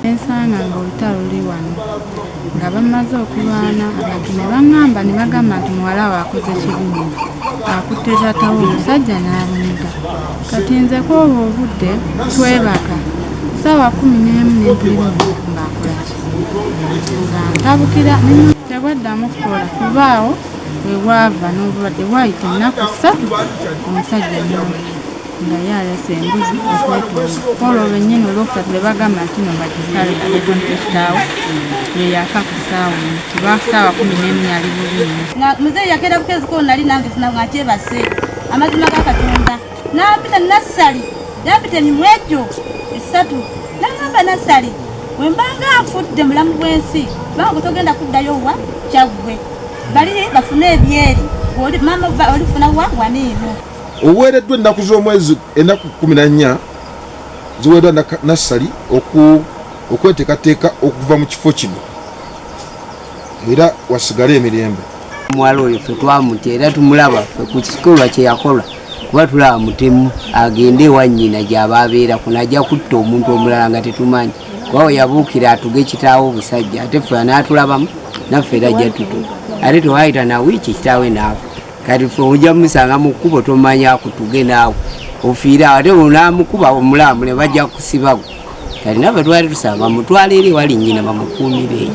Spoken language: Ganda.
ensanga nga olutalo luli wano nga bamaze okulwana abantu ne baŋŋamba ne bagamba nti muwala we akoze kibimu akutte zatawo omusajja n'abumiga kati nze kwoba obudde twebaka saawa kumi n'emu nempulira omuntu ng'akolaki nga ntabukira tebwaddamu kukola kubaawo webwava n'obulwadde bwayita ennaku ssatu omusajja nyowe nga ye alese embuzi okwetundakola olwo nyini olwokusatu ne bagamba nti no bakisale aekonkitaawo yeyaka ku saawa kiba saawa kumi nemu yali bubiina muzeeyi yakeera bukeeziko nali nange sinabwatyebase amazima ga katonda n'ampita nassali n'ampita emimwa egyo esatu n'agamba nassali bwe mbanga nfudde mulamu bw'ensi kubanga gwe togenda kuddayo wa kyaggwe bali bafune ebyeri maama olifuna wa waniino oweereddwa ennaku z'omwezi ennaku kumi na nnya ziweereddwa nassali okwetekateeka okuva mu kifo kino era wasigale emirembe omuwala oyo fe twamutya era tumulaba fe ku kikolwa kyeyakola kuba tulaba mutemu agende ewanyina gyaba abeera kuno ajja kutta omuntu omulala nga tetumanyi kuba we yabuukira atuge kitaawo obusajja ate fe anaatulabamu naffe era ajja tutu ate tewayita na wiiki kitaawe naawe kati fe ojja mumusanga mu kkubo tomanya kutuge naawe ofiire awo ate onamukuba omulamu ne bajja kusibawo kati naba twali tusaba mutwala eri wali nyina bamukuumire eyo